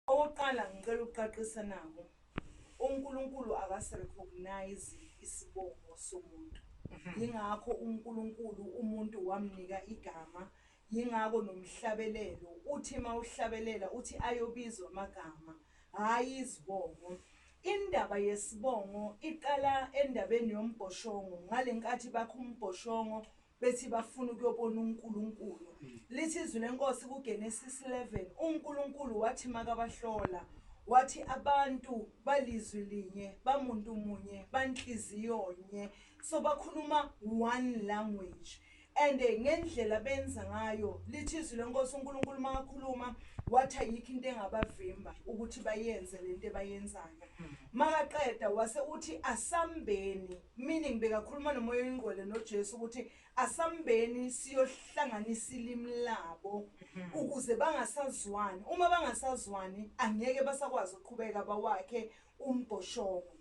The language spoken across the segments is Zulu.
Okokuqala ngicela ukuqaqisa naku uNkulunkulu akasi recognize isibongo somuntu yingakho uNkulunkulu umuntu wamnika igama yingakho nomhlabelelo uthi mawuhlabelela uthi ayobizwa amagama hhayi izibongo Indaba yesibongo iqala endabeni yombhoshongo ngalenkathi bakha umbhoshongo bethi bafuna ukuyobona uNkulunkulu. Lithi izwi leNkosi kuGenesis 11, uNkulunkulu wathi makabahlola, wathi abantu balizwi linye, bamuntu munye, banhliziyo nye. So bakhuluma one language. And eh, ngendlela benza ngayo, lithi izwi leNkosi uNkulunkulu makakhuluma, wathi ayikho into engabavimba ukuthi bayenze lento ebayenzayo. Makaqeda wase uthi asambeni Meaning bekakhuluma nomoya oyingqwele noJesu ukuthi asambeni siyohlanganisa ilimi labo ukuze bangasazwani uma bangasazwani angeke basakwazi ukuqhubeka bawakhe umbhoshongo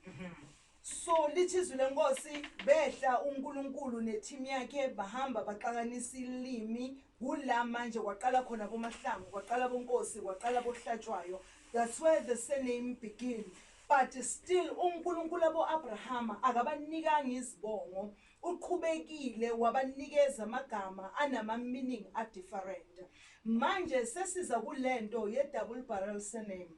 so lithi izwi lenkosi behla uNkulunkulu neteam yakhe bahamba baxakanisa ilimi kula manje kwaqala khona bomahlangu kwaqala bonkosi kwaqala bohlatshwayo that's where the surname begin But still uNkulunkulu abo Abrahama akabanikanga izibongo uqhubekile wabanikeza amagama anama meaning a different. Manje sesiza kulento ye double barrel surname.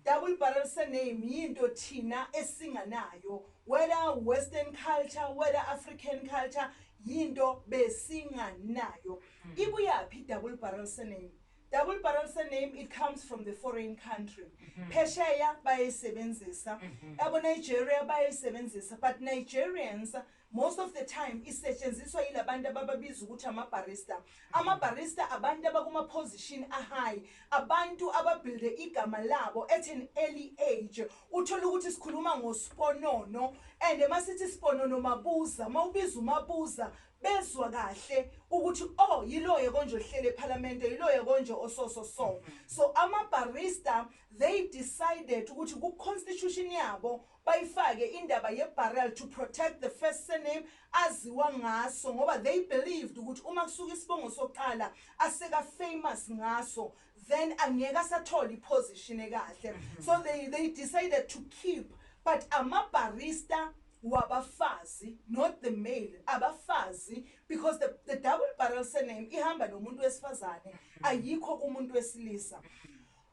Double barrel surname yinto thina esinganayo whether western culture whether African culture yinto besinganayo. Ibuyaphi double barrel surname? Double barrel surname it comes from the foreign country. Mhm. Phesheya bayayisebenzisa. Mhm. Yabo Nigeria bayayisebenzisa but Nigerians most of the time isetshenziswa yilabantu abababiza ukuthi ama barista. Ama barista abantu abakuma position a high. Abantu ababuilde igama labo at an early age. Uthola ukuthi sikhuluma ngosiponono and masithi siponono mabuza mawubiza umabuza bezwa kahle ukuthi o oh, yiloya konje ohlele ephalamende yiloya konje ososo so so amabarista they decided ukuthi ku-constitution yabo bayifake indaba ye-barrel to protect the first surname aziwa ngaso ngoba they believed ukuthi uma kusuke isibongo sokuqala aseka-famous ngaso then angeke asathole i position ekahle so they they decided to keep but ama barista wabafazi not the male abafazi because the, the double barrel surname ihamba nomuntu wesifazane ayikho umuntu wesilisa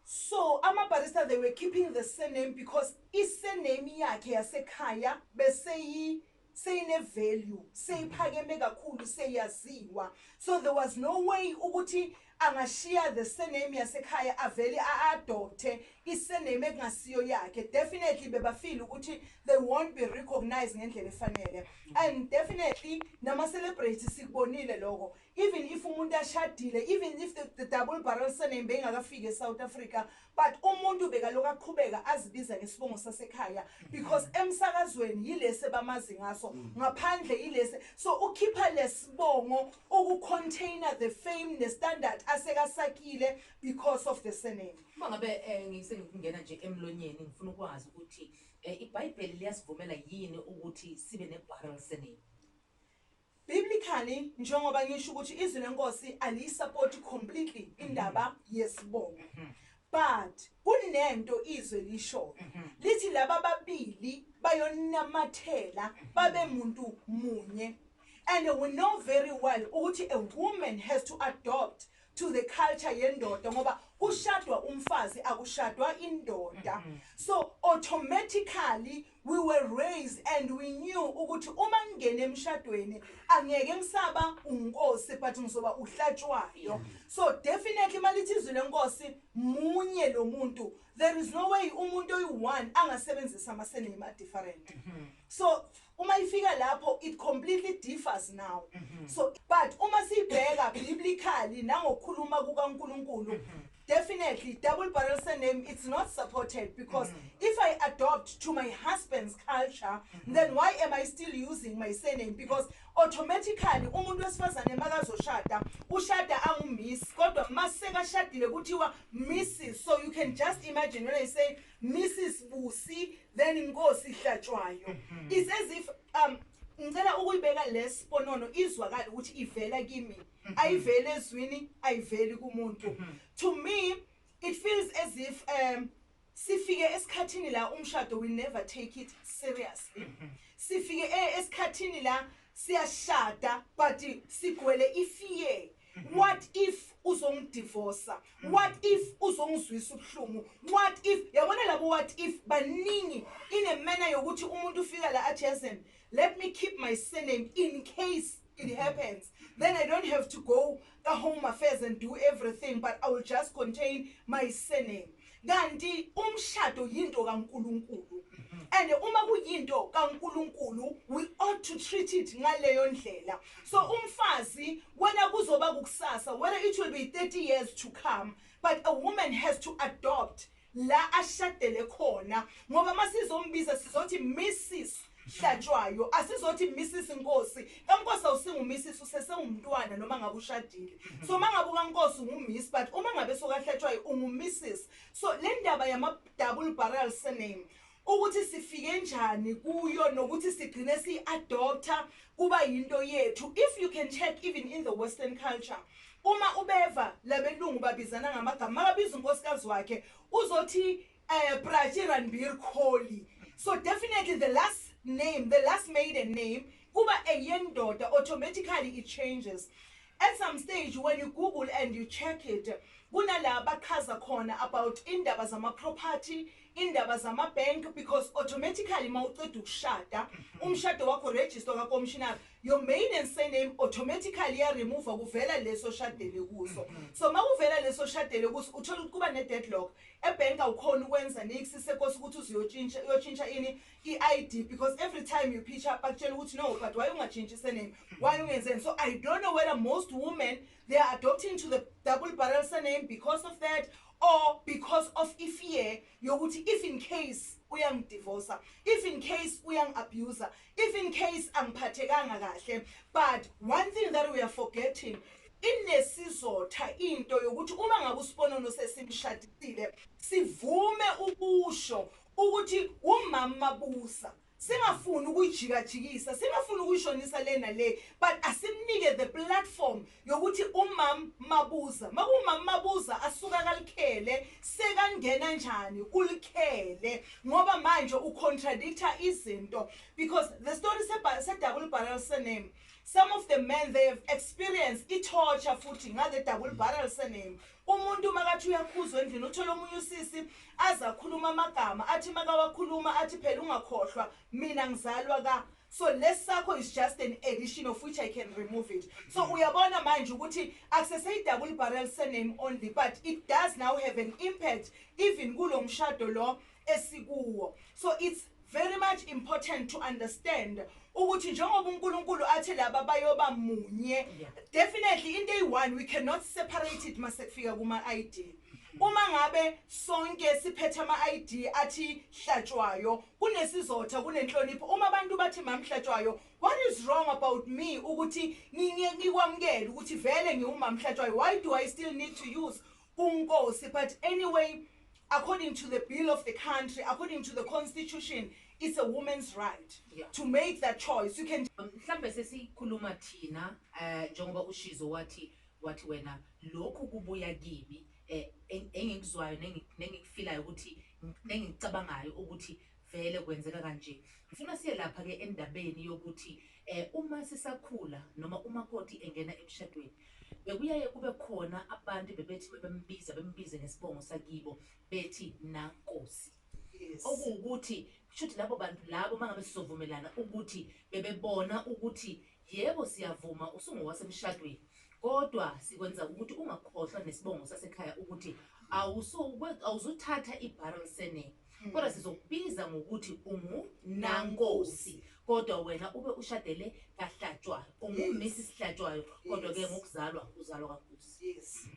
so ama barista they were keeping the surname because i surname yakhe yasekhaya beseyi seyine value seyiphakeme kakhulu seyaziwa so there was no way ukuthi angashiya the surname yasekhaya avele a-adopte i-surname ekungasiyo yakhe definitely bebafile ukuthi they won't be recognized ngendlela efanele and definitely nama-celebrate sikubonile loko even if umuntu ashadile even if the, the double barrel surname beyingakafiki e-south africa But umuntu bekalokhu aqhubeka azibiza ngesibongo sasekhaya because emsakazweni yilesi ebamazi ngaso ngaphandle yilesi so ukhipha lesibongo uku container the fame ne standard asekasakile because of the surname. Uma ngabe eh, ngisengikungena nje emlonyeni ngifuna ukwazi ukuthi eh, iBhayibheli liyasivumela yini ukuthi sibe ne barrel surname. Biblically njengoba ngisho ukuthi izwi lenkosi aliyisapoti completely indaba yesibongo. But kunento izwe lishoyo. Lithi laba babili bayonamathela babe muntu munye. And we know very well ukuthi a woman has to adopt to the culture yendoda ngoba kushadwa umfazi akushadwa indoda mm-hmm. so automatically we were raised and we knew ukuthi uma ngingena emshadweni angeke ngisaba unkosi but ngizoba uhlatshwayo mm-hmm. so definitely malithi izwi lenkosi munye lo muntu there is no way umuntu oyi-one angasebenzisa ama-sename a-different mm-hmm. so Uma ifika lapho it completely differs now. Mm -hmm. So but uma sibheka biblically nangokukhuluma kukaNkulunkulu mm -hmm. definitely double barrel surname it's not supported because mm -hmm. if i adopt to my husband's culture mm -hmm. then why am i still using my surname because automatically umuntu wesifazane makazoshada ushada angumiss kodwa masekashadile kuthiwa mrs so you can just imagine when i say mrs busi then inkosi ihlatshwayo mm-hmm. is as if um ngicela ukuyibeka lesiponono izwakala ukuthi ivela kimi mm-hmm. ayivele ezwini ayiveli kumuntu mm-hmm. to me it feels as if um sifike esikhathini la umshado we never take it seriously sifike eh, esikhathini la siyashada but sigwele ifear What if uzongidivosa? What if uzongizwisa ubuhlungu? What if yabona labo what if baningi inemena yokuthi umuntu ufika la athi yazi let me keep my surname in case it happens then i don't have to go ka home affairs and do everything but i will just contain my surname Kanti umshado yinto kaNkulunkulu and uma kuyinto kaNkulunkulu we ought to treat it ngaleyo ndlela. So umfazi wena kuzoba kukusasa whether it will be 30 years to come but a woman has to adopt la ashadele khona ngoba masizombiza sizothi Mrs hlatshwayo asizothi misisi nkosi kankosi awusingumisisi usesewumntwana noma ngabe ushadile so uma ngabe ukankosi ungumiss but uma ngabe sokahlatshwayo ungumisisi so le ndaba yama-double barrel surname ukuthi sifike njani kuyo nokuthi sigcine siyi-adopta kuba yinto yethu if you can check even in the western culture uma ubeva labelungu babizana ngamagama makabiza unkosikazi wakhe uzothi Eh Prachi Ranbir Kholi. So definitely the last name, the last maiden name kuba eyendoda automatically it changes. At some stage when you google and you check it kunala bachaza khona about indaba zama property, indaba zama bank because automatically mawuqeda ukushada umshado wakho register ka commissioner your maiden surname automatically ya remove kuvela leso shadele kuso. So mawuvela leso shadele kuso uthola ukuthi kuba ne deadlock E bank awukhoni ukwenza nix sekosi ukuthi uzuyotshintsha uyotshintsha ini i ID because every time you pitch up bakutshela ukuthi no but why ungajintshi surname why ungenzeni so I don't know whether most women they are adopting to the double barrel surname because of that or because of ifear yokuthi if in case uyangidivosa if in case uyangiabuser If in case angiphathekanga kahle but one thing that we are forgetting inesizotha into yokuthi uma ngabe usiponono sesimshadisile sivume ukusho ukuthi umama busa singafuni ukuyijikajikisa singafuni ukuyishonisa lena le but asimnike the platform yokuthi umam Mabuza makumam Mabuza asuka kalikhele sekangena njani ulikhele ngoba manje u contradictor izinto because the story sedaku libhalela surname some of the men they have experienced i torture futhi ngale daku libhalela surname umuntu makathi uyakhuzwa endlini uthola omunye usisi azakhuluma amagama athi makawakhuluma athi phela ungakhohlwa mina ngizalwa ka So lesi sakho is just an edition of which I can remove it. So uyabona manje ukuthi akuseseyi double barrel surname only but it does now have an impact even kulo mshado lo esikuwo. So it's very much important to understand ukuthi njengoba uNkulunkulu athi laba bayoba munye definitely into eyi-one we cannot separate it masekufika kuma-ID uma ngabe sonke siphethe ama-ID athi hlatshwayo kunesizotha kunenhlonipho uma abantu bathi mam hlatshwayo what is wrong about me ukuthi ngikwamukele ukuthi vele ngiwumam hlatshwayo why do i still need to use unkosi but anyway according to the bill of the country according to the constitution it's a woman's right yeah. to make that choice you can um, mhlambe sesikhuluma thina eh, njengoba ushizo wathi wathi wena lokhu kubuya kimi eh, engikuzwayo nengikufilayo ukuthi Ngipne engikucabangayo ukuthi vele kwenzeka kanje. Ngifuna siye lapha ke endabeni yokuthi eh uma sisakhula noma umakoti engena emshadweni bekuyaye kube khona abantu bebethi mebembiza bembize ngesibongo sakibo bethi nankosi. Yes. Okuwukuthi kushuthi labo bantu labo mangabe sizovumelana ukuthi bebebona ukuthi Yebo siyavuma usungowasemshadweni kodwa sikwenza ukuthi ungakhohlwa nesibongo sasekhaya ukuthi awuzuthatha iBarrel Surname hmm. kodwa sizokubiza ngokuthi ungu Nankosi kodwa wena ube ushadele kaHlatshwayo ungu Mrs Hlatshwayo kodwa ke ngokuzalwa uzalwa kaNkosi. Yes.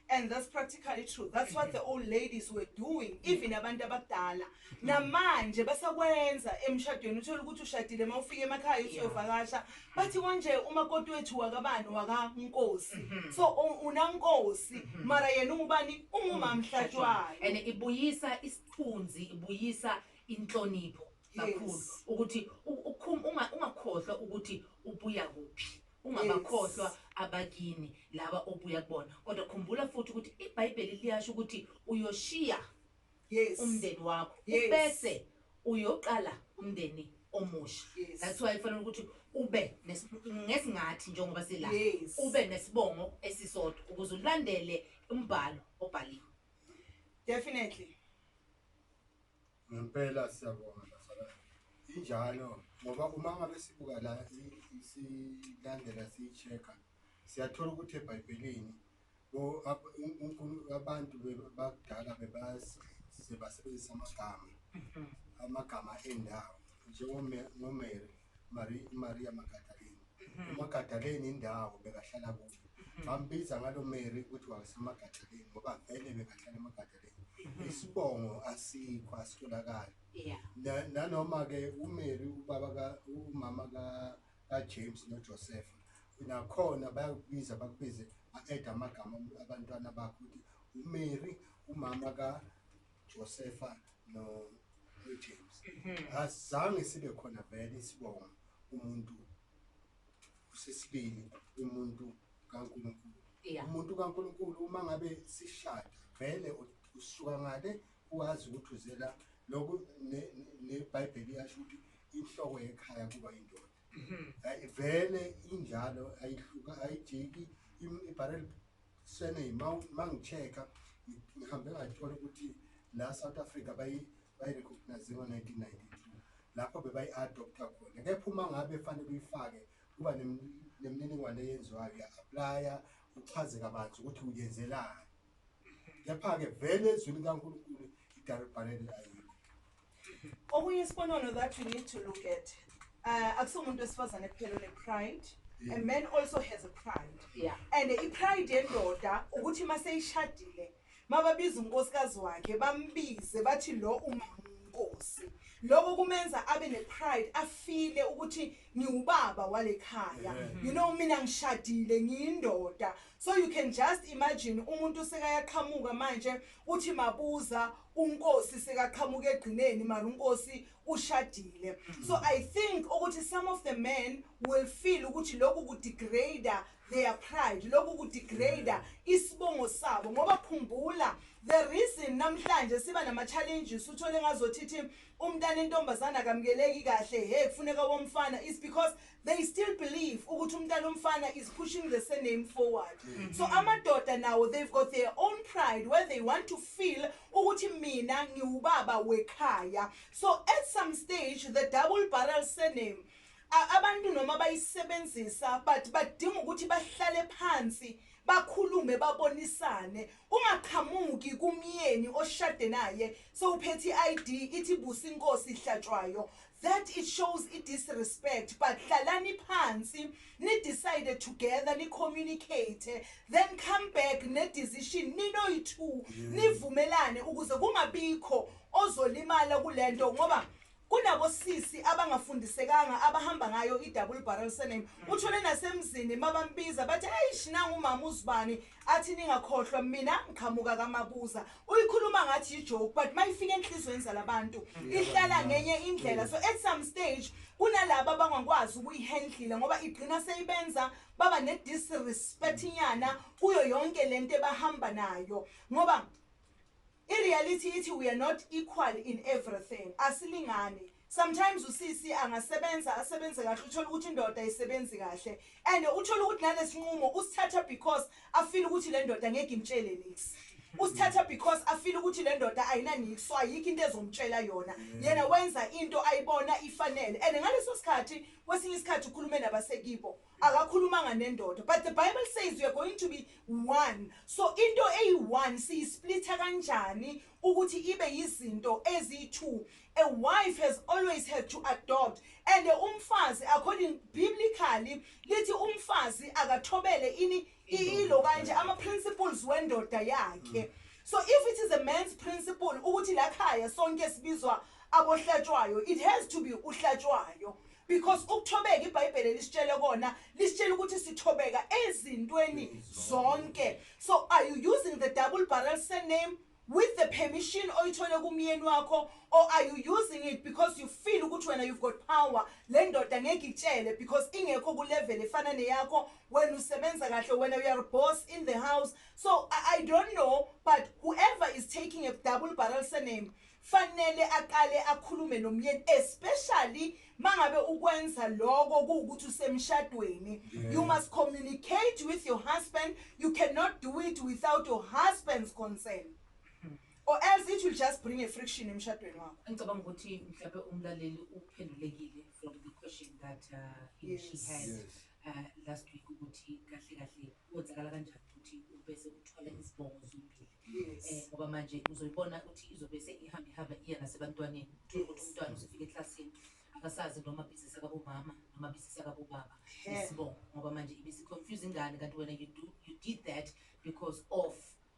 and that's practically true that's what the old ladies were doing even abantu abadala namanje basakwenza emshadweni uthola ukuthi ushadile uma ufika emakhaya usuyovakasha bathi konje umakoti wethu wakabani wakankosi mm-hmm. so unankosi mm-hmm. mara yena ungubani ungumamhlatshwayo mm-hmm. and ibuyisa isithunzi ibuyisa inhlonipho kakhulu ukuthi ungakhohlwa ukuthi ubuya kuphi Ungabakhohlwa abakini laba obuya kubona, kodwa khumbula futhi ukuthi iBhayibheli liyasho ukuthi uyoshiya umndeni wakho ubese uyoqala umndeni omusha. That's why kufanele ukuthi ube ngesingathi njengoba sila ube nesibongo esisodwa ukuze ulandele umbhalo obhaliwe. Definitely. Ngempela siyabonga bazalwane injalo ngoba uma ngabe sibuka la silandela siyi-check-a siyathola ukuthi ebhayibhelini abantu bakudala bebasebenzisa amagama amagama endawo njengomere maria magadaleni umagadaleni indawo bekahlala kuyo bambiza ngalo meri ukuthi wasemagadaleni ngoba vele bekahlala emagadaleni isibongo asikho asitholakali yeah Na- nanoma ke umary ubaba ka umama ka kajames nojoseph nakhona bayakubiza bakubize a-eda amagama abantwana bakho ukuthi umary umama kajosefa no- nojames asizange sibe khona vele isibongo umuntu usesibili umuntu kaNkulunkulu yeah. umuntu kaNkulunkulu uma ngabe sishada vele usuka ngale uwazi ukuthi uzela lokhu neBhayibheli yasho ukuthi inhloko yekhaya kuba indoda mhm. vele injalo ayihluka ayijiki ibarrel Surname ma ma ngichecka ngihambe ngathola ukuthi la South Africa bayi bayi recognize ngo 1992 lapho bebayi adopta khona kepha uma ngabe fanele uyifake kuba nemininingwane eyenziwayo ya applya uchaze kabanzi ukuthi uyenzelani kepha ke vele ezwini kaNkulunkulu idarubhalele ayikho Okunye isibonelo that we need to look at uh, akusomuntu wesifazane kuphela one-pride a man also has a pride yeah. and i-pride yendoda ukuthi uma seyishadile mababiza unkosikazi wakhe bambize bathi lo umnkosi lokho kumenza abe nepride afile ukuthi ngiwubaba wale khaya you know mina ngishadile ngiyindoda so you can just imagine umuntu sekayaqhamuka manje uthi mabuza uNkosi sekaqhamuka egcineni mara uNkosi ushadile so I think ukuthi some of the men will feel ukuthi lokhu ku degrader their pride lokhu ku degrader isibongo sabo ngoba khumbula the reason namhlanje siba nama challenges uthole ngazothi thi umntana intombazana akamkeleki kahle hey kufuneka womfana is because They still believe ukuthi umntana omfana is pushing the surname forward. Mm -hmm. So amadoda nawo they've got their own pride where they want to feel ukuthi mina ngiwubaba wekhaya. So at some stage the double barrel surname abantu noma bayisebenzisa but badinga ukuthi bahlale phansi bakhulume babonisane kungaqhamuki kumyeni oshade naye sewuphethe i-ID ithi busa inkosi ihlatshwayo That it shows i disrespect but hlalani phansi ni decide together ni communicate then come back ne decision ninoyi two nivumelane ukuze kungabikho ozolimala kulento ngoba kunabo sisi abangafundisekanga abahamba ngayo i-double barrel surname uthole nasemzini mabambiza bathi ayish nangu umama uzibani athi ningakhohlwa mina ngiqhamuka kamabuza uyikhuluma ngathi yijoke but uma ifika enhliziyweni zalabantu ihlala ngenye indlela so at some stage kunalaba abangakwazi ukuyihendlile ngoba igcina seyibenza baba ne-disrespect inyana kuyo yonke le nto ebahamba nayo ngoba I reality ithi we are not equal in everything asilingani sometimes usisi angasebenza asebenze kahle uthole ukuthi indoda ayisebenzi kahle and uthole ukuthi nalesinqumo usithatha because afile ukuthi le ndoda ngeke imtshele nix usithatha because afile ukuthi le ndoda ayinanix so ayikho into ezomtshela yona yena wenza into ayibona ifanele and ngaleso sikhathi kwesinye isikhathi ukhulume nabasekibo Akakhulumanga nendoda but the bible says we are going to be one so into eyi one siyisplitha kanjani ukuthi ibe yizinto ezi two a wife has always had to adopt and umfazi according biblically lithi umfazi akathobele ini ilo kanje ama principles wendoda yakhe mm. so if it is a man's principle ukuthi lakhaya sonke sibizwa abohlatshwayo it has to be uhlatshwayo Because ukuthobeka ibhayibhele lisitshele kona lisitshela ukuthi sithobeka ezintweni zonke so are you using the double barrel surname with the permission oyithole kumyeni wakho or are you using it because you feel ukuthi wena you've got power le ndoda ngeke itshele because ingekho kulevel efana neyakho wena usebenza kahle wena you are boss in the house so I, I don't know but whoever is taking a double barrel surname Fanele aqale akhulume nomyeni especially mangabe ukwenza loko kuwukuthi usemshadweni you must communicate with your husband you cannot do it without your husband's concern or else it will just bring a friction emshadweni wakho Ngicabanga ukuthi mhlawumbe umlaleli uphendulekile for the question that uh, he or she Yes. had Yes. uh, last week ukuthi kahle kahle kwenzakala kanjani ukuthi ubese uthwala izibongo zombili. Yes. Eh, ngoba manje uzoyibona ukuthi izobe seyihamba ihamba iya nasebantwaneni uthole ukuthi umntwana usefika eklasini akasazi noma bizisa kabomama noma bizisa kabobaba Yeah. isibongo ngoba manje ibisiconfuse ingane kanti wena you, do, you did that because of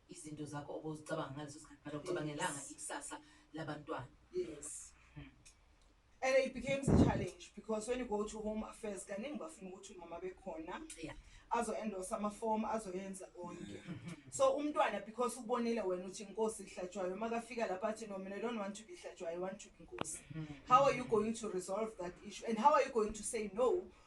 izinto zakho obuzicabanga ngaleso sikhathi but awucabangelanga ikusasa labantwana Yes. And it becomes a challenge because when you go to home affairs kaningi bafuna ukuthi umama bekhona Yeah. azo-endorsa amafomu azoyenza konke so umntwana because ubonile wena ukuthi inkosi ihlatshwayo uma kafika lapha athi no mina I don't want to be hlatshwayo I want to be inkosi how are you going to resolve that issue and how are you going to say no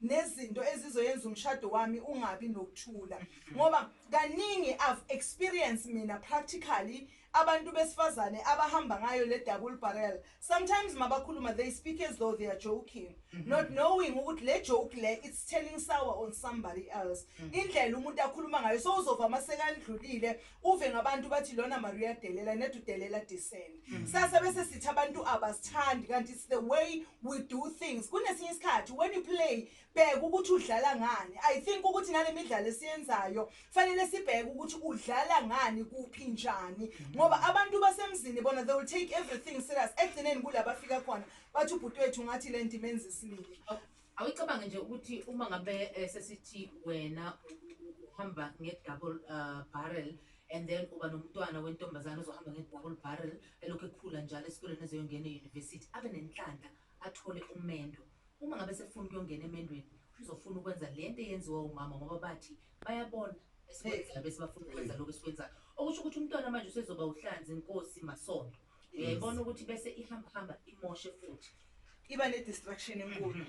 nezinto ezizoyenza umshado wami ungabi nokuthula ngoba kaningi I've experience mina practically abantu besifazane abahamba ngayo le double barrel sometimes mabakhuluma they speak as though they are joking mm-hmm. not knowing ukuthi le joke le it's turning sour on somebody else mm-hmm. indlela umuntu akhuluma ngayo so uzova masekandlulile Uve ngabantu bathi lona mari uyadelela ned udelela disen. Mm. Sasa bese sithi abantu abasithandi kanti it's the way we do things. Kunesinye isikhathi when you play bheka ukuthi udlala ngani. I think ukuthi nale midlalo esiyenzayo fanele sibheke ukuthi udlala ngani kuphi njani mm. ngoba abantu basemzini bona they will take everything serious ekugcineni kulabafika khona bathi ubhuti wethu ngathi le nto imenza isilili. Oh. Awuyicabange nje ukuthi uma ngabe eh, sesithi wena uhamba nge-double uh, barrel and then uba nomntwana wentombazane ozohamba nge-double barrel elokhu ekhula njalo esikoleni ezoyongena e-university abe nenhlanhla athole umendo uma ngabe sefuna ukuyongena emendweni uzofuna ukwenza le nto eyenziwa umama ngoba bathi bayabona esikwenzayo bese bafuna ukwenza lokhu esikwenzayo okusho ukuthi umntwana manje usezoba uhlanzi nkosi masondo uyayibona ukuthi bese ihamba hamba imoshe futhi iba ne distraction enkulu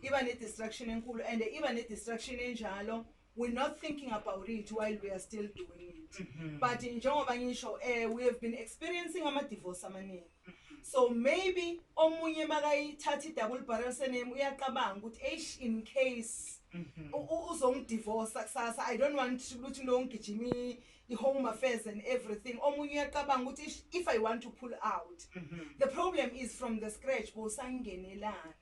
iba ne distraction enkulu and iba ne distraction enjalo we're not thinking about it while we are still doing it mm -hmm. but njengoba ngisho eh we have been experiencing ama divorce amaningi mm -hmm. so maybe omunye makayithatha idouble barrel surname uyaqabanga ukuthi eish in case mhm. uzongidivorce kusasa i don't want ukuthi longigijimi i home affairs and everything omunye uyacabanga ukuthi ish, if i want to pull out the problem is from the scratch bosangenelane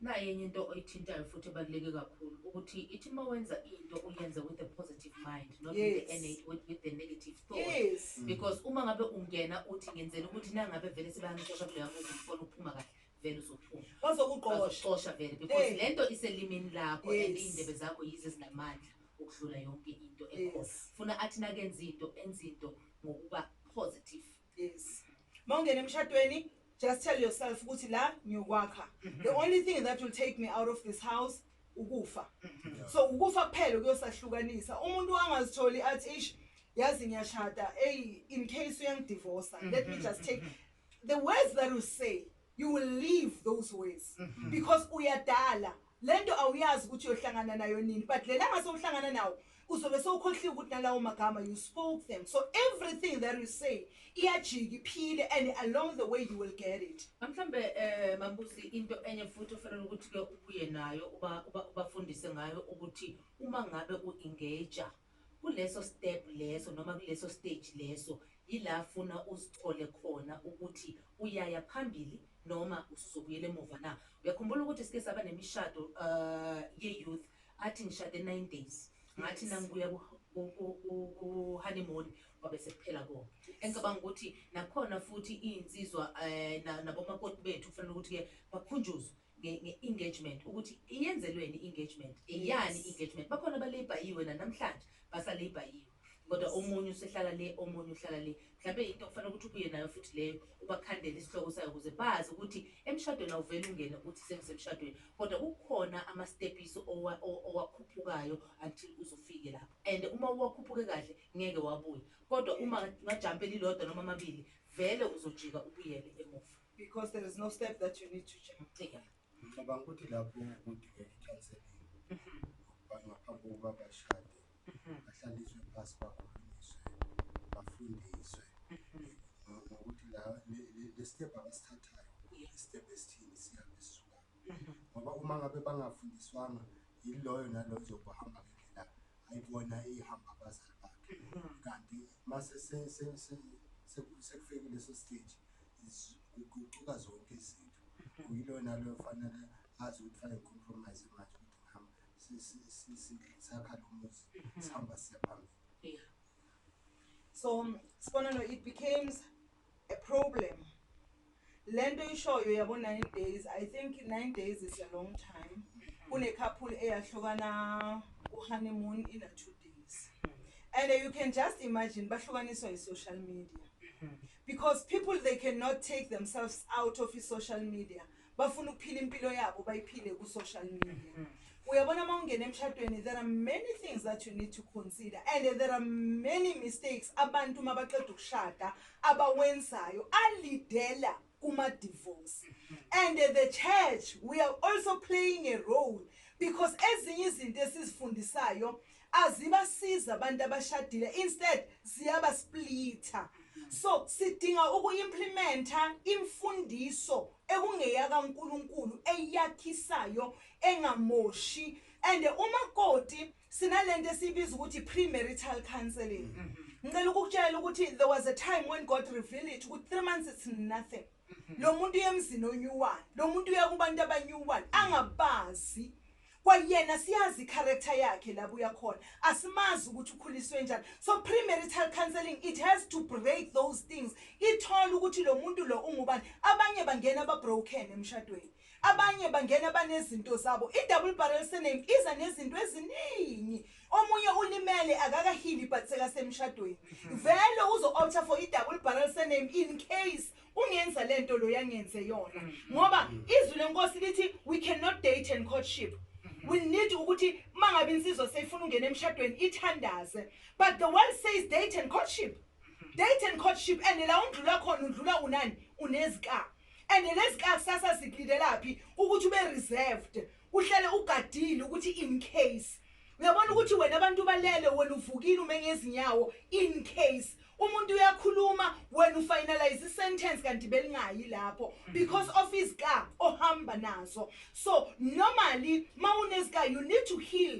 naye enye into oyithintayo futhi ebaluleke kakhulu ukuthi ithi uma wenza into uyenze with a positive mind not with, the, Yes. NA with, with the negative thought yes because uma ngabe ungena uthi ngenzela ukuthi nangabe vele sebangixosha kuleya muzi ngifona ukuphuma kahle vele uzophuma bazokuqosha bazoxosha vele because Eh. le nto iselimini lakho and Yes. iy'ndebe zakho yizo ezinamandla ukudlula yonke into ekhona Yes. funa athi nakenza into enze into ngokuba positive Yes. Mawungena emshadweni, just tell yourself ukuthi la ngiyokwakha. The only thing that will take me out of this house ukufa. So ukufa kuphela kuyosahlukanisa. Umuntu angazitholi athi ish yazi ngiyashada, hey in case uyangidivorce, let me just take the words that you say, you will leave those words because uyadala. Lento awuyazi ukuthi uyohlangana nayo nini but lelanga sewuhlangana nawo uzobe sewukhohliwe ukuthi nalawo magama you spoke them so everything that you say iyajika iphile and along the way you will get it mhlawumbe um eh, mambusi into enye futhi ofanele ukuthi-ke ubuye nayo ubafundise ngayo ukuthi uma ngabe u-engaja Kuleso step leso noma kuleso stage leso yila afuna uzithole khona ukuthi uyaya phambili noma usuzobuyela emuva na. Uyakhumbula ukuthi sike saba nemishado ye youth athi ngishade nine days ngathi nangibuya ku honeymoon kwabe sekuphela konke. Engicabanga ukuthi nakhona futhi iyinsizwa nabomakoti bethu kufanele ukuthi ke bakhunjuzwe nge nge engagement ukuthi iyenzelweni engagement eyani yes. engagement bakhona abalebhayiwe nanamhlanje basalebhayiwe kodwa omunye usehlala le omunye uhlala le mhlawumbe into okufanele ukuthi ubuye nayo futhi leyo ubakhandele isihloko sayo ukuze bazi ukuthi emshadweni awuvele ungene ukuthi sengisemshadweni kodwa kukhona amastepiso owakhuphukayo until uzofike lapho and uma uwakhuphuke kahle ngeke wabuye kodwa uma ngajampe lilodwa noma amabili vele uzojika ubuyele emuva because there is no step that you need to jump yeah. ngicabanga ukuthi lapho kudingeka i-counseling ukuba ngaphambi kokuba bashade bahlaliswe phasi bakhulunyiswe bafundiswe ngokuthi la le step abasithathayo i-step esithini sihambe sisuka ngoba uma ngabe bangafundiswanga yiloyo naloyo zokuhamba ngendlela ayibona ihamba abazali bakhe kanti mase sekufike leso stage Ziguquka zonke izinto uyilona loyo fanele azi ukuthi fanele compromise manje ukuthi ngihamba sakha lo muzi sihamba siya phambili yeah so sibonelo it becomes a problem lento ishoyo yabo 9 days i think 9 days is a long time kune couple eyahlukana u honeymoon in a 2 days and you can just imagine bahlukaniswa yi social media Because people they can not take themselves out of i-social media. Bafuna ukuphila impilo yabo bayiphile ku-social media. Mm -hmm. uyabona uma ungena emshadweni there are many things that you need to consider and there are many mistakes abantu uma baqeda ukushada abawenzayo alidela kuma-divorce and the church we are also playing a role because ezinye izinto esizifundisayo Azibasizi abantu abashadile instead ziyaba splitha so sidinga uku implimenta imfundiso ekungeyaka Nkulunkulu eyakhisayo engamoshi and umakoti sinalento esiyibiza ukuthi premarital counseling ngicela ukukutshela ukuthi there was a time when God reveal it ukuthi 3 months it's nothing lo muntu uye emzini onew one lo muntu uya kubantu abanew one angabazi kwayena siyazi i-character yakhe labo uyakhona asimazi ukuthi ukhuliswe njani so premarital counseling it has to break those things ithole ukuthi lo muntu lo ungubani abanye bangena babroken emshadweni Abanye bangena banezinto zabo. I-double barrel surname iza nezinto eziningi. Omunye ulimele akakahili but sekasemshadweni. Vele uzo-opta for i-double barrel surname in case ungenza le nto loya ngenze yona. Ngoba izwi lenkosi lithi we cannot date and courtship. We need ukuthi uma ngabe insizwa seyifuna ungena emshadweni ithandaze. But the world says date and courtship. Date and courtship and la undlula khona undlula unani? Unezikaba. and lezikhathi sasa zikulindelaphi ukuthi ube reserved uhlale ugadile ukuthi in case uyabona ukuthi wena abantu balele wena uvukile ume ngezinyawo in case umuntu uyakhuluma wena ufinalize isentence kanti belingayi lapho mm. because of izika ohamba nazo so normally mawunezika you need to heal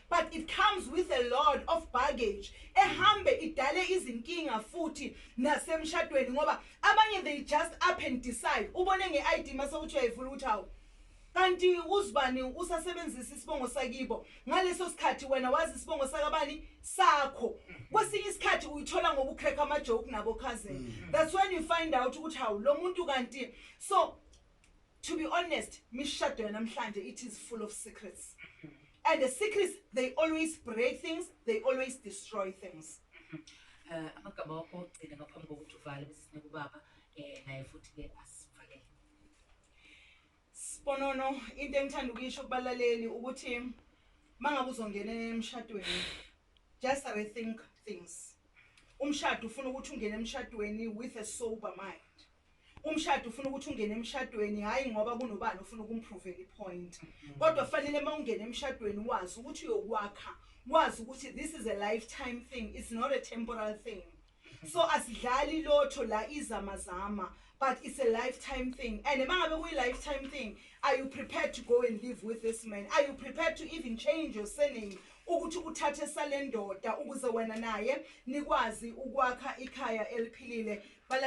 but it comes with a lot of baggage ehambe idale izinkinga futhi nasemshadweni ngoba abanye they just up and decide ubone nge-id mase uthi uyayivula ukuthi hawu kanti uzibani usasebenzisa isibongo sakibo ngaleso sikhathi wena wazi isibongo sakabani sakho kwesinye isikhathi uyithola ngokucrack amajoke nabo cousin mm. that's when you find out ukuthi hawu lo muntu kanti so to be honest mishado yanamhlanje it is full of secrets and the secrets they always break things they always destroy things eh, amagama wakho ogcina ngaphambi kokuthi uvale bese sinika ubaba um naye futhi ke asivalele sibonono into engithanda ukuyisho kubalaleli ukuthi uma ngabe uzongena emshadweni just rethink things umshado ufuna ukuthi ungene emshadweni with a sober mind Umshado ufuna ukuthi ungene emshadweni hhayi ngoba kunobani ofuna ukumpruvela ipoint. Kodwa kufanele uma ungena emshadweni wazi ukuthi uyokwakha, wazi ukuthi this is a lifetime thing, it's not a temporal thing. So asidlali lotho la izamazama but it's a lifetime thing and uma ngabe kuyi-lifetime thing are you prepared to go and live with this man? Are you prepared to even change your surname ukuthi uthathe sale ndoda ukuze wena naye nikwazi ukwakha ikhaya eliphilile?